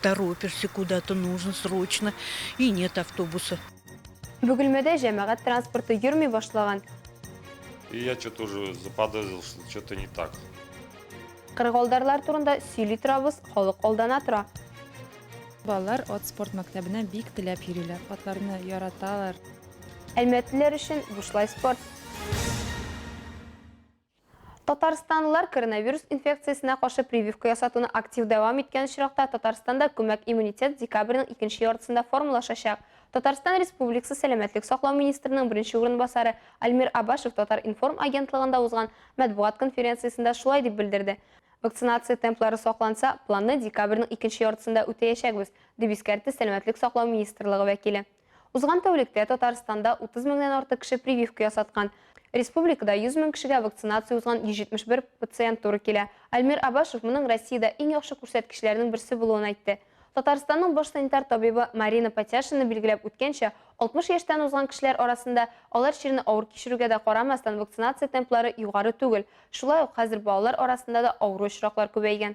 Торопишься куда-то, нужно срочно, и нет автобуса. Бөгелмәдә җәмәгать транспорты йөрми башлаган. И я что-то уже заподозрил, что что-то не так. Кырыгалдарлар турында сөйли торабыз, халык алдана тора. Балалар от спорт мәктәбенә бик теләп йөриләр, атларны яраталар. Әлмәтлеләр өчен бушлай спорт. Татарстанлылар коронавирус инфекциясенә каршы прививка ясатуны актив дәвам иткән очракта, Татарстанда күмәк иммунитет декабрьнең икенче яртысында формалашачак. Татарстан Республикасы сәламәтлек саклау министрының беренче урынбасары Альмир Абашев Татар-информ агентлыгында узган матбугат конференциясендә шулай дип белдерде. Вакцинация темплары сакланса, планны декабрьнең икенче яртысында үтәячәкбез, дип искәртте сәламәтлек саклау министрлыгы вәкиле. Узган тәүлектә Татарстанда 30 меңнән артык кеше прививка ясаткан. Республикада 100 мең кешегә вакцинация узган 171 пациент туры килә. Альмир Абашев моның Россиядә иң яхшы күрсәткечләрнең берсе булуын әйтте. Татарстанның баш санитар табибы Марина Потяшина билгеләп үткәнчә, 60 яшьтән узган кешеләр арасында, алар чирне авыр кичерүгә дә карамастан, вакцинация темплары югары түгел. Шулай ук хәзер балалар арасында да авыру очраклар күбәйгән.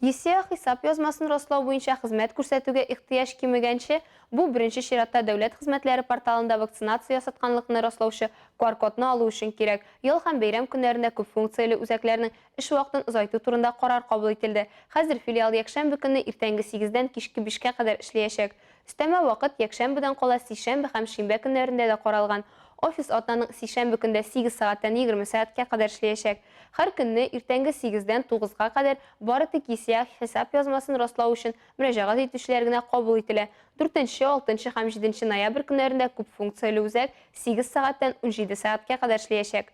Исеа хисап язмасын раслау буенча хезмәт күрсәтүгә ихтыяҗ кимегәнче, бу беренче чиратта дәүләт хезмәтләре порталында вакцинация ясатканлыкны раслаучы QR-кодны алу өчен кирәк. Ял һәм бәйрәм көннәрендә күпфункцияле үзәкләрнең эш вакытын озайту турында карар кабул ителде. Хәзер филиал якшәмбе көнне иртәнге сигездән кичке бишкә кадәр эшләячәк. Өстәмә вакыт якшәмбедән кала сишәмбе һәм шимбә көннәрендә дә каралган. Офис атнаның сишәмбе көндә сигез сәгатьтән егерме сәгатькә кадәр эшләячәк. Һәр көнне иртәнге сигездән тугызга кадәр бары тик исеах хисап язмасын раслау өчен мөрәҗәгать итүчеләр генә кабул ителә. Дүртенче, алтынчы һәм җиденче ноябрь көннәрендә күпфункцияле үзәк сигез сәгатьтән унҗиде сәгатькә кадәр эшлиячәк.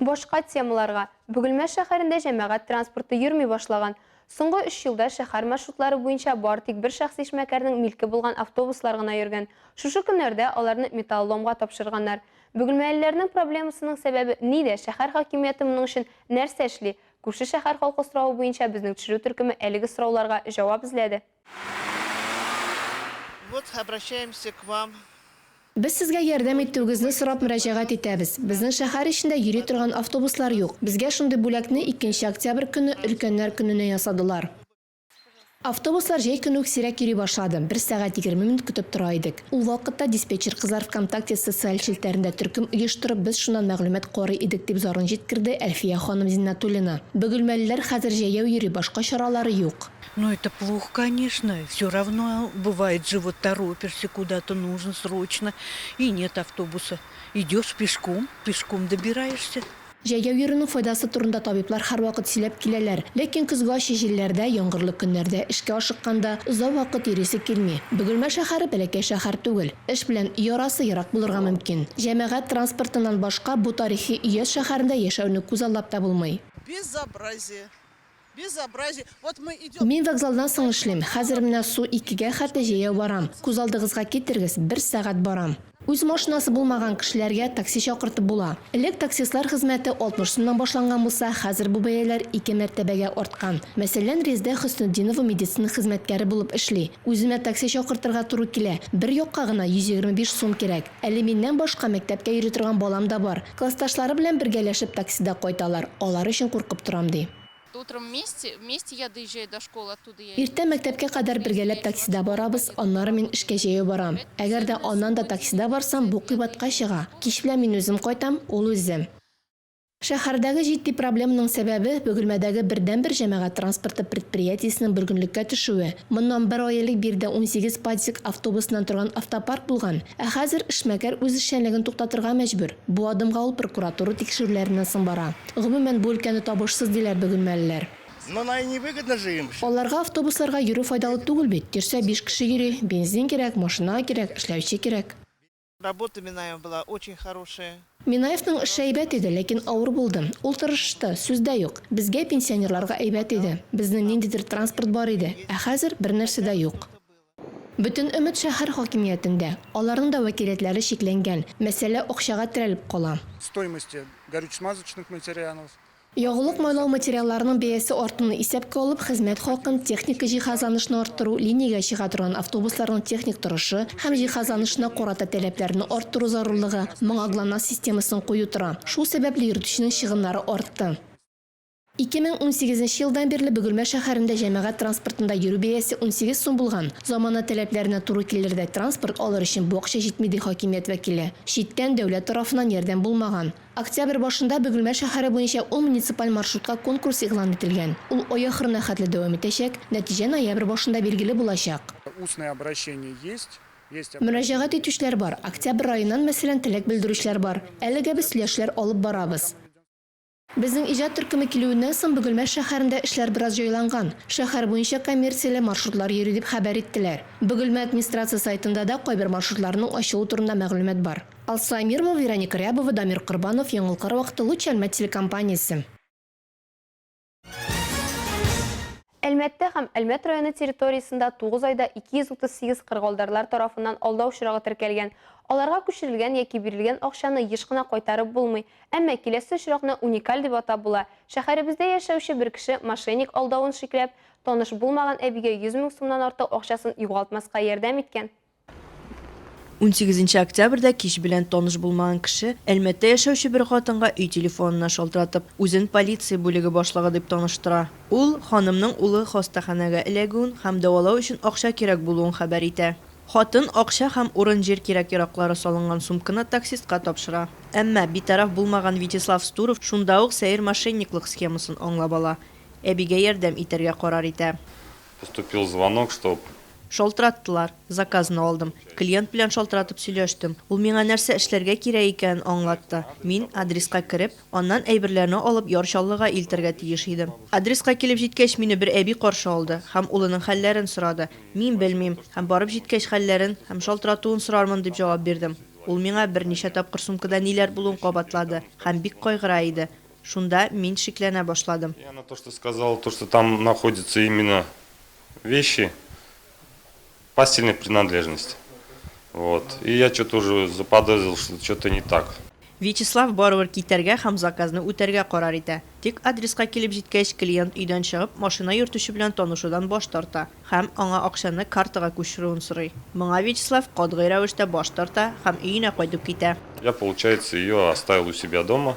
Башка темаларга. Бөгелмә шәһәрендә җәмәгать транспорты йөрми башлаган. Соңгы өч елда шәһәр маршрутлары буенча бары тик бер шәхси эшмәкәрнең милке булган автобуслар гына йөргән. Шушы көннәрдә аларны металлоломга тапшырганнар. Бөгелмәлеләрнең проблемасының сәбәбе нидә, шәһәр хакимияте моның өчен нәрсә эшли? Күрше шәһәр халкы соравы буенча безнең төшерү төркеме әлеге сорауларга җавап эзләде. Вот обращаемся к вам. Без сезгә ярдәм итүегезне сорап мөрәҗәгать итәбез. Безнең шәһәр эчендә йөри торган автобуслар юк. Безгә шундый бүләкне икенче октябрь көнне Өлкәннәр көненә ясадылар. Автобуслар җәй көне үк сирәк йөри башлады, бер сәгать егерме минут көтеп тора идек. Ул вакытта диспетчер кызлар ВКонтакте социаль челтәрендә төркем оештырып, без шуннан мәгълүмат карый идек, дип зарын җиткерде Әлфия ханым Зиннатуллина. Бөгелмәлеләр хәзер җәяү йөри, башка чаралары юк. Ну это плохо конечно, все равно бывает же вот торопишься куда-то нужно срочно и нет автобуса, идешь пешком, пешком добираешься. Җәйгә йөрүнең файдасы турында табиблар һәрвакыт сөйләп киләләр. Ләкин көзге ачы җилләрдә, яңгырлы көннәрдә эшкә ашыкканда, озак вакыт йөрисе килми. Бөгелмә шәһәре бәләкәй шәһәр түгел. Эш белән өй арасы ерак булырга мөмкин. Җәмәгать транспортыннан башка бу тарихи өяз шәһәрендә яшәүне күзаллап та булмый. Безобразие! Мин вокзалдан соң эшлим, хәзер менә су икегә хәтле җәяү барам. Күз алдыгызга китерегез, бер сәгать барам. Үз машинасы булмаган кешеләргә такси чакыртып була. Элек таксистлар хезмәте 60 сумнан башланган булса, хәзер бу бәяләр ике мәртәбәгә арткан. Мәсәлән, Резедә Хөснетдинова медицина хезмәткәре булып эшли. Үземә такси чакыртырга туры килә, бер якка гына 125 сум кирәк. Әле миннән башка мәктәпкә йөри торган балам да бар. Классташлары белән бергәләшеп таксида кайталар, алар өчен куркып торам, ди. Иртә мәктәпкә кадәр бергәләп таксида барабыз, аннары мин эшкә җәяү барам. Әгәр дә аннан да таксида барсам, бу кыйбатка чыга. Кич белән мин үзем кайтам, ул үзе. Шәһәрдәге җитди проблеманың сәбәбе, Бөгелмәдәге бердәнбер җәмәгать транспорты предприятиесенең бөргенлеккә төшүе. Моннан бер ай элек биредә унсигез ПАДЗИК автобусыннан торган автопарк булган. Ә хәзер эшмәкәр үз эшчәнлеген туктатырга мәҗбүр. Бу адымга ул прокуратура тикшерүләреннән соң бара. Гомумән, бу өлкәне табышсыз, диләр бөгелмәлеләр. Аларга автобусларга йөрү файдалы түгел бит, йөрсә биш кеше йөри, бензин кирәк, машина кирәк, эшләүче кирәк. Работа Минаева была очень хорошая. Минаевның эше әйбәт иде, ләкин авыр булды. Ул тырышышты, сүз дә юк. Безгә, пенсионерларга әйбәт иде. Безнең ниндидер транспорт бар иде. Ә хәзер, бернәрсә дә юк. Бөтен өмет шәһәр хакимиятендә. Аларның да вәкилиятләре чикләнгән. Мәсьәлә акчага терәлеп кала. Стоимости горюче-смазочных материалов. Ягулык-майлау материалларының бәясе артуны исәпкә алып, хезмәт хакын, техник җиһазланышны арттыру, линиягә чыга торган автобусларның техник торышы һәм җиһазланышына карата таләпләрне арттыру зарурлыгы, моңа ГЛОНАСС системасын кую тора. Шул сәбәпле йөртүченең чыгымнары артты. 2018 нче елдан бирле Бөгелмә шәһәрендә җәмәгать транспортында йөрү бәясе 18 сум булган. Замана таләпләренә туры килердәй транспорт алыр өчен бу акча җитми, ди хакимият вәкиле. Читтән, дәүләт тарафыннан ярдәм булмаган. Октябрь башында Бөгелмә шәһәре буенча ул муниципаль маршрутка конкурс игълан ителгән. Ул ай ахырына хәтле дәвам итәчәк, нәтиҗә ноябрь башында билгеле булачак. Устное обращение есть, есть обращение. Мөрәҗәгать итүчеләр бар. Октябрь аеннан, мәсәлән, теләк белдерүчеләр бар. Әлегә без сөйләшләр алып барабыз. Безнең иҗат төркеме килүеннән соң Бөгелмә шәһәрендә эшләр бераз җайланган. Шәһәр буенча коммерцияле маршрутлар йөри, дип хәбәр иттеләр. Бөгелмә администрация сайтында да кайбер маршрутларның ачылу турында мәгълүмат бар. Алсу Әмирова, Вероника Рябова, Дамир Корбанов, Яңалкар вакыты, Луч Әлмәт телекомпаниясе. Әлмәттә һәм Әлмәт районы территориясендә 9 айда 238 кыргылдарлар тарафыннан алдау очрагы теркәлгән. Аларга күчерелгән яки бирелгән акчаны еш кына кайтарып булмый. Әмма киләсе очракны уникаль дип атап була. Шәһәребездә яшәүче бер кеше мошенник алдавын шикләп, таныш булмаган әбигә 100 мең сумнан артык акчасын югалтмаска ярдәм иткән. 18 нче октябрьдә кич белән таныш булмаган кеше Әлмәттә яшәүче бер хатынга өй телефонына шалтыратып, үзен полиция бүлеге башлыгы дип таныштыра. Ул, ханымның улы хастаханәгә эләгүен һәм дәвалау өчен акча кирәк булуын хәбәр итә. Хатын акча һәм урын-җир кирәк-яраклары салынган сумканы таксистка тапшыра. Әмма битараф булмаган Вячеслав Стуров шунда ук сәер мошенниклык схемасын аңлап ала, әбигә ярдәм итәргә карар итә. Поступил звонок, чтоб. Шалтыраттылар. Заказны алдым. Клиент белән шалтыратып сөйләштем. Ул миңа нәрсә эшләргә кирәк икәнен аңлатты. Мин, адреска кереп, аннан әйберләрне алып Яр Чаллыга илтергә тиеш идем. Адреска килеп җиткәч, мине бер әби каршы алды һәм улының хәлләрен сорады. Мин белмим һәм барып җиткәч хәлләрен һәм шалтыратуын сорармын дип җавап бирдем. Ул миңа берничә тапкыр сумкада ниләр булуын кабатлады һәм бик кайгыра иде. Шунда мин шикләнә башладым. И она то что сказала то что там находится именно вещи постельной принадлежности вот и я что то уже заподозрил что что то не так. Вячеслав барыбер китәргә һәм заказны үтәргә карар итә. Тик адреска килеп җиткәч клиент өйдән чыгып машина йөртүче белән танышудан баш тарта һәм аңа акчаны картага күчерүен сорый. Моңа Вячеслав катгый рәвештә баш тарта һәм өенә кайтып китә. Я получается ее оставил у себя дома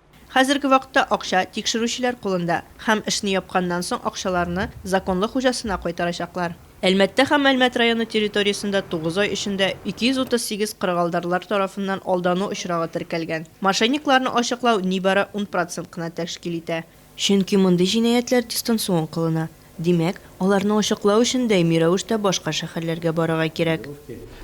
Хәзерге вакытта акча тикшерүчеләр кулында һәм эшне япканнан соң акчаларны законлы хуҗасына кайтарачаклар. Әлмәттә һәм Әлмәт районы территориясендә тугыз ай эчендә 238 кырыгалдарлар тарафыннан алдану очрагы теркәлгән. Мошенникларны ачыклау нибары ун процент кына тәшкил итә. Чөнки мондый җинаятьләр дистанцион кылына. Димәк, аларны ачыклау өчен даими рәвештә башка шәһәрләргә барырга кирәк.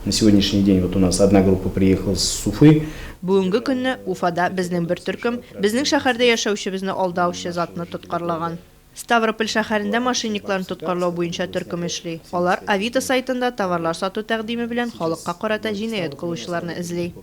На сегодняшний день вот у нас одна группа приехала с Уфы. Бүгенге көнне Уфада безнең бер төркем безнең шәһәрдә яшәүчебезне алдаучы затны тоткарлаган. Ставрополь шәһәрендә мошенникларны тоткарлау буенча төркем эшли. Алар Авито сайтында товарлар сату тәкъдиме белән халыкка карата җинаять кылучыларны эзли.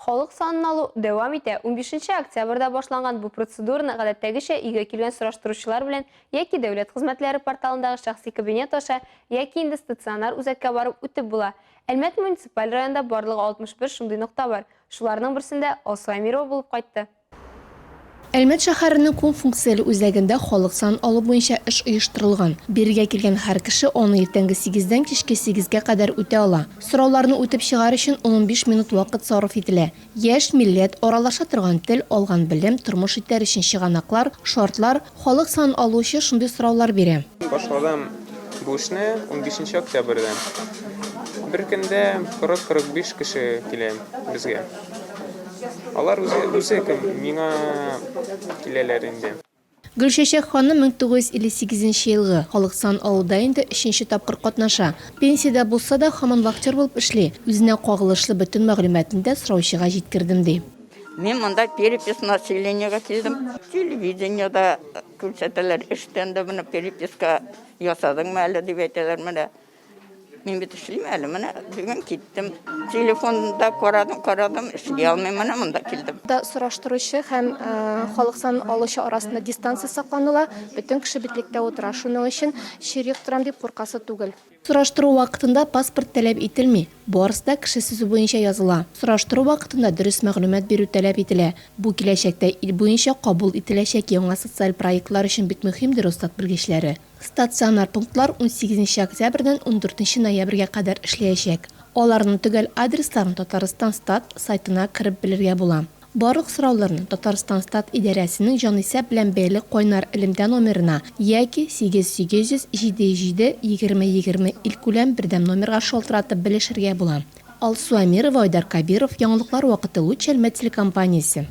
Халык санын алу дәвам итә. Унбишенче октябрьдә башланган бу процедураны гадәттәгечә өйгә килгән сораштыручылар белән яки Дәүләт хезмәтләре порталындагы шәхси кабинет аша, яки инде стационар үзәккә барып үтеп була. Әлмәт муниципаль районында барлыгы 61 шундый нокта бар. Шуларның берсендә Алсу Әмирова булып кайтты. Әлмәт шәһәренең кунфункцияле үзәгендә халык санын алу буенча эш оештырылган. Бирегә килгән һәр кеше аны иртәнге сигездән кичке сигезгә кадәр үтә ала. Сорауларны үтеп чыгар өчен ун-унбиш минут вакыт сарыф ителә. Яшь, милләт, аралаша торган тел, алган белем, тормыш итәр өчен чыганаклар, шартлар, Халык сан алучы шундый сораулар бирә. Башладым бу эшне унбишенче октябрьдә. Бер көндә 40-40 биш кеше килә безгә. Алар үзе үзе кем, миңа киләләр инде. Гөлчәчәк ханым 1958 нче елгы халык сан алуда инде өченче тапкыр катнаша. Пенсиядә булса да, хаман вахтер булып эшли, үзенә кагылышлы бөтен мәгълүматны да сораучыга җиткердем, ди. Мин монда перепись населениега килдем. Телевидениеда күрсәтәләр, эштән дә менә переписка ясадыңмы әле дип әйтәләр менә. Мин бит эшлим әле, менә бүген киттем. Телефонда карадым, карадым, эшли алмыйм, менә монда килдем. Да сораштыручы һәм э, халык сан алучы арасында дистанция сакланыла, бөтен кеше битлектә утыра. Шуның өчен чирек торам дип куркасы түгел. Сораштыру вакытында паспорт таләп ителми, барысы да кеше сүзе буенча языла. Сораштыру вакытында дөрес мәгълүмат бирү таләп ителә. Бу киләчәктә ил буенча кабул ителәчәк яңа социаль проектлар өчен бик мөһимдер, остат белгечләре. Стационар пунктлар унсигезенче октябрьдән ундүртенче ноябрьгә кадәр эшләячәк. Аларның төгәл адресларын Татарстан-Стат сайтына кереп белергә була. Барлык сорауларны Татарстанстат идарәсенең җанисәп белән бәйле кайнар элемтә номерына яки 8800 77 20 20 илкүләм бердәм номерга шалтыратып белешергә була. Алсу Әмирова, Айдар Кабиров, Яңалыклар вакыты Лучшельмет телекомпаниясе.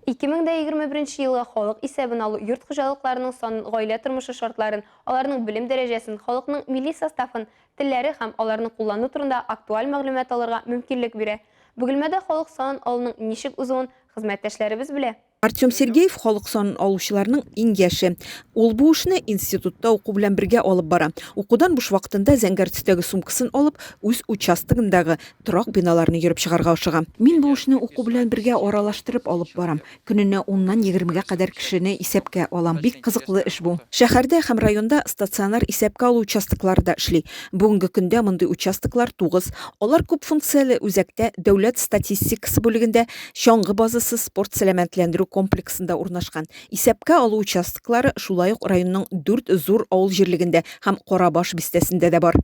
2021 елга халык исәбен алу йорт хуҗалыкларының санын, гаилә тормышы шартларын, аларның белем дәрәҗәсен, халыкның милли составын, телләре һәм аларны куллану турында актуаль мәгълүмат алырга мөмкинлек бирә. Бөгелмәдә халык санын алуның ничек узуын хезмәттәшләребез белә. Артем Сергеев халык санын алучыларның иң яше. Ул бу эшне институтта уку белән бергә алып бара. Укудан буш вакытында зәңгәр төстәге сумкасын алып, үз участогындагы торак биналарны йөреп чыгарга ашыга. Мин бу эшне уку белән бергә аралаштырып алып барам. Көненә уннан егермегә кадәр кешене исәпкә алам. Бик кызыклы эш бу. Шәһәрдә һәм районда стационар исәпкә алу участоклары да эшли. Бүгенге көндә мондый участоклар тугыз. Алар күп функцияле үзәктә, Дәүләт статистикасы бүлегендә, Чаңгы базасы спорт сәламәтләндерү комплексында урнашкан. Исәпкә алу участоклары шулай ук районның дүрт зур авыл җирлегендә һәм Карабаш бистәсендә дә бар.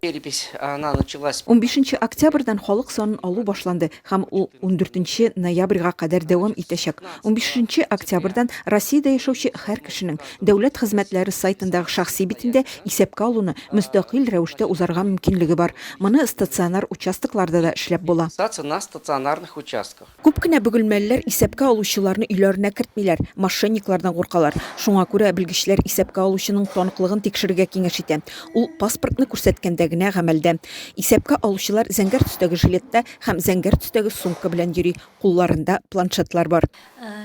Унбишенче октябрьдән халык санын алу башланды. һәм ул ундүртенче ноябрьгә кадәр дәвам итәчәк. Унбишенче октябрьдән Россиядә яшәүче һәр кешенең Дәүләт хезмәтләре сайтындагы шәхси битендә исәпкә алуны мөстәкыйль рәвештә узарга мөмкинлеге бар. Моны стационар участокларда да эшләп була. Саться на стационарных участках. Күп кенә бөгелмәлеләр исәпкә алучыларны өйләренә кертмиләр, мошенниклардан куркалар. Шуңа күрә белгечләр исәпкә алучының таныклыгын тикшерергә киңәш итә. Ул паспортны күрсәткәндә генә гамәлдә. Исәпкә алучылар зәңгәр төстәге жилетта һәм зәңгәр төстәге сумка белән йөри, кулларында планшетлар бар.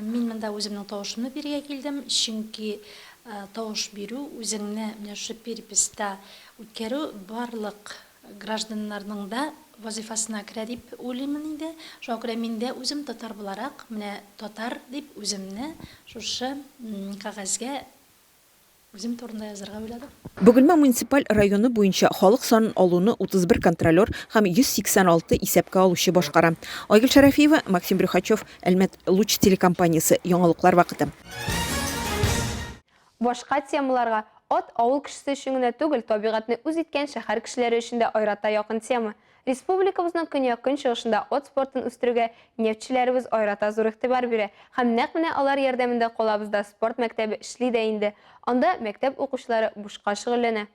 Мин монда үземнең тавышымны бирергә килдем, чөнки тавыш бирү, үзеңне менә шушы переписта үткәрү барлык гражданнарның да вазыйфасына керә дип уйлыймын инде. Шуңа күрә мин дә үзем татар буларак, менә татар дип үземне шушы кәгазьгә Үзем турында язарга уйладым. Бөгелмә муниципаль районы буенча халык санын алуны 31 контролер һәм 186 исәпкә алучы башкара. Айгөл Шәрәфиева, Максим Брюхачев, Әлмәт Луч телекомпаниясе, яңалыклар вакыты. Башка темаларга Ат авыл кешесе өчен генә түгел, табигатьне үз иткән шәһәр кешеләре өчен дә аерата якын тема. Республикабызның көньяк-көнчыгышында ат спортын үстерүгә нефтьчеләребез аерата зур игътибар бирә һәм нәкъ менә алар ярдәмендә калабызда спорт мәктәбе эшли дә инде. Анда мәктәп укучылары бушка шөгыльләнә.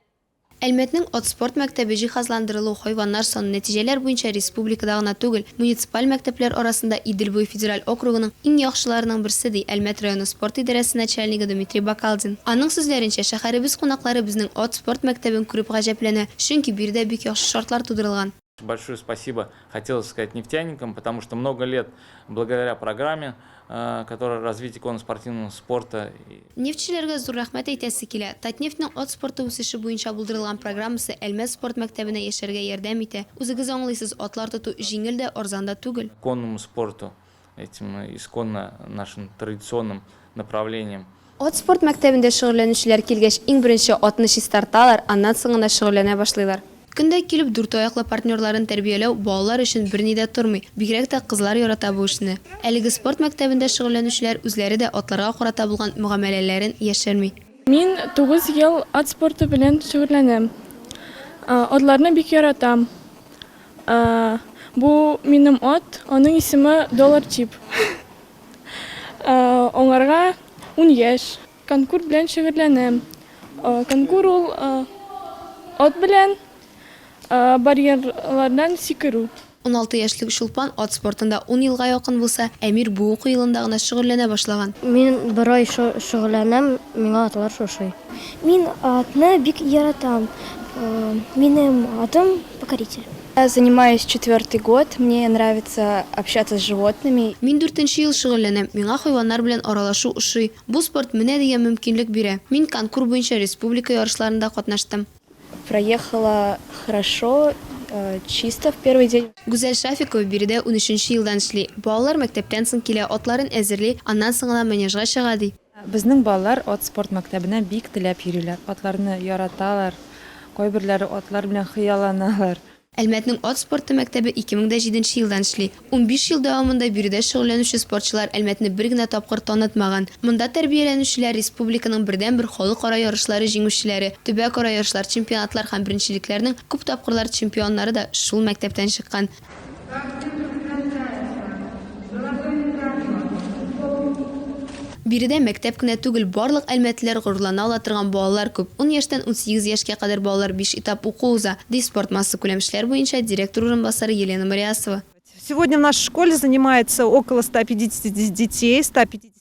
Әлмәтнең ат спорт мәктәбе җиһазландырылу, хайваннар саны, нәтиҗәләр буенча республикада гына түгел, муниципаль мәктәпләр арасында Идел буе федераль округының иң яхшыларының берсе, ди Әлмәт районы спорт идарәсе начальнигы Дмитрий Бакалдин. Аның сүзләренчә, шәһәребез кунаклары безнең ат Спорт мәктәбен күреп гаҗәпләнә, чөнки биредә бик яхшы шартлар тудырылган. Большое спасибо хотелось сказать нефтяникам, потому что много лет благодаря программе, которая развитие конно-спортивного спорта. Нефтьчеләргә зур рәхмәт әйтәсе килә. Татнефтьнең ат спорты үсеше буенча булдырылган программасы Әлмәт спорт мәктәбенә яшәргә ярдәм итә. Үзегез аңлыйсыз, атлар тоту җиңел дә, арзан да түгел. Конному спорту этим исконно нашим традиционным направлением. Ат спорт мәктәбендә шөгыльләнүчеләр килгәч, иң беренче атны чистарталар, аннан соң гына шөгыльләнә башлыйлар. Көн дә килеп дүрт аяклы партнерларын тәрбияләү балалар өчен берни дә тормый, бигрәк тә кызлар ярата бу эшне. Әлеге спорт мәктәбендә шөгыльләнүчеләр үзләре дә атларга карата булган мөгамәләләрен яшерми. Мин тугыз ел ат спорты белән шөгыльләнәм. Атларны бик яратам. Ә, бу минем ат, аның исеме Доллар Чип. Ә, аңарга ун яшь. Конкур белән шөгыльләнәм. Ә, конкур ул ә, ат белән ә, барьерлардан сикерү. Уналты яшьлек Чулпан ат спортында ун елга якын булса, Әмир бу уку елында гына шөгыльләнә башлаган. Мин бер ай шо шөгыльләнәм, миңа атлар шошый. Мин атны бик яратам. Ә, минем атым. Покоритель. Я занимаюсь четвертый год, мне нравится общаться с животными. Мин дүртенче ел шөгыльләнәм, миңа хайваннар белән аралашу ошый. Бу спорт менә дигән мөмкинлек бирә. Мин конкур буенча республика ярышларында катнаштым. Проехала хорошо, чисто в первый день. Гүзәл Шафикова биредә унөченче елдан эшли. Балалар мәктәптән соң килә, атларын әзерли, аннан соң гына манежга чыга, ди. Безнең балалар ат спорт мәктәбенә бик теләп йөриләр, атларны яраталар, кайберләре атлар белән хыялланалар. Әлмәтнең ат спорты мәктәбе ике мең дә җиденче елдан эшли. Унбиш ел дәвамында биредә шөгыльләнүче спортчылар Әлмәтне бер генә тапкыр танытмаган. Монда тәрбияләнүчеләр республиканың бердәнбер халыкара ярышлары җиңүчеләре, төбәкара ярышлар, чемпионатлар һәм беренчелекләрнең күп тапкырлар чемпионнары да шул мәктәптән чыккан. Биредә мәктәп кенә түгел, барлык әлмәтлеләр горурлана ала торган балалар күп. Ун яшьтән унсигез яшькә кадәр балалар биш этап уку уза, ди спорт массакүләм эшләр буенча директор урынбасары Елена Мариасова. Сегодня в нашей школе занимается около 150 детей, 150.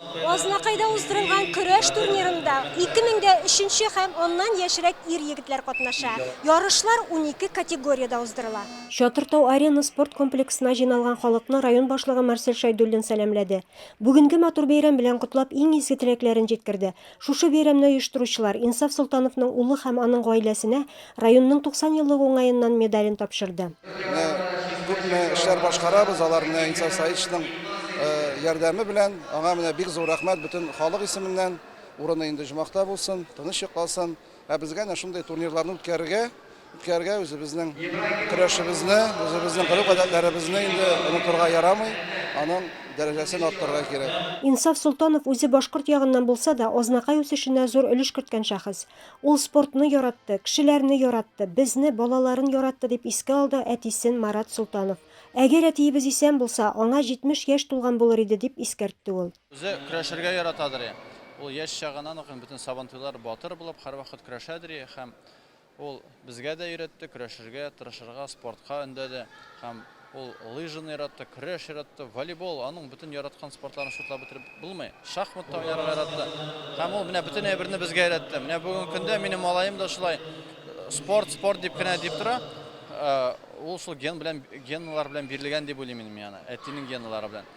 Азнакайда уздырылган көрәш турнирында ике мең дә өченче һәм аннан яшьрәк ир-егетләр катнаша. Ярышлар унике категориядә уздырыла. Чатыр Тау-Арена спорт комплексына җыйналган халыкны район башлыгы Марсель Шәйдуллин сәламләде. Бүгенге матур бәйрәм белән котлап, иң изге теләкләрен җиткерде. Шушы бәйрәмне оештыручылар Инсаф Солтановның улы һәм аның гаиләсенә районның 90 еллык уңаеннан медален тапшырды. Менә күпме эшләр башкарабыз, аларны Инсаф Саитовичның ярдәме белән. Аңа менә бик зур рәхмәт бөтен халык исеменнән. Урыны инде оҗмахта булсын, тыныч йокласын. Ә безгә әнә шундый турнирларны үткәрергә, үткәрергә үзебезнең көрәшебезне, үзебезнең гореф-гадәтләребезне инде онытырга ярамый, аның дәрәҗәсен арттырырга кирәк. Инсаф Солтанов үзе башкорт ягыннан булса да, Азнакай үсешенә зур өлеш керткән шәхес. Ул спортны яратты, кешеләрне яратты, безне, балаларын яратты, дип искә алды әтисен Марат Солтанов. Әгәр әтиебез исән булса, аңа 70 яшь тулган булыр иде, дип искәртте ул. Үзе көрәшергә яратадыр. Ул яшь чагыннан ук бөтен Сабантуйлар батыр булып һәрвакыт көрәшәдер һәм ул безгә дә өйрәтте, көрәшергә, тырышырга, спортка өндәде һәм ул лыжаны яратты, көрәш яратты, волейбол, аның бөтен яраткан спортларын шутлап бетереп булмый. Шахмат та уйнарга яратты. Һәм ул менә бөтен әйберне безгә өйрәтте. Менә бүген көндә минем малаем да шулай спорт, спорт дип кенә дип тора. Ул шул ген белән, генлар белән бирелгән дип уйлыйм мин аны, әтинең генлары белән.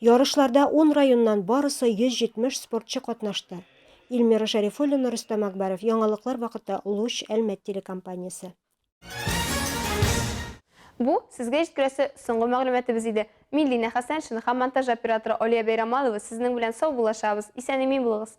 Ярышларда ун районнан барысы 170 спортчы катнашты. Ильмира Шәрифуллина, Рөстәм Акбаров, Яңалыклар вакыты, Луч, Әлмәт телекомпаниясе. Бу, сезгә җиткерәсе соңгы мәгълүматыбыз иде. Мин Линә Хәсәншина һәм монтаж операторы Алия Бәйрамалова сезнең белән сау булашабыз, исән-имин булыгыз!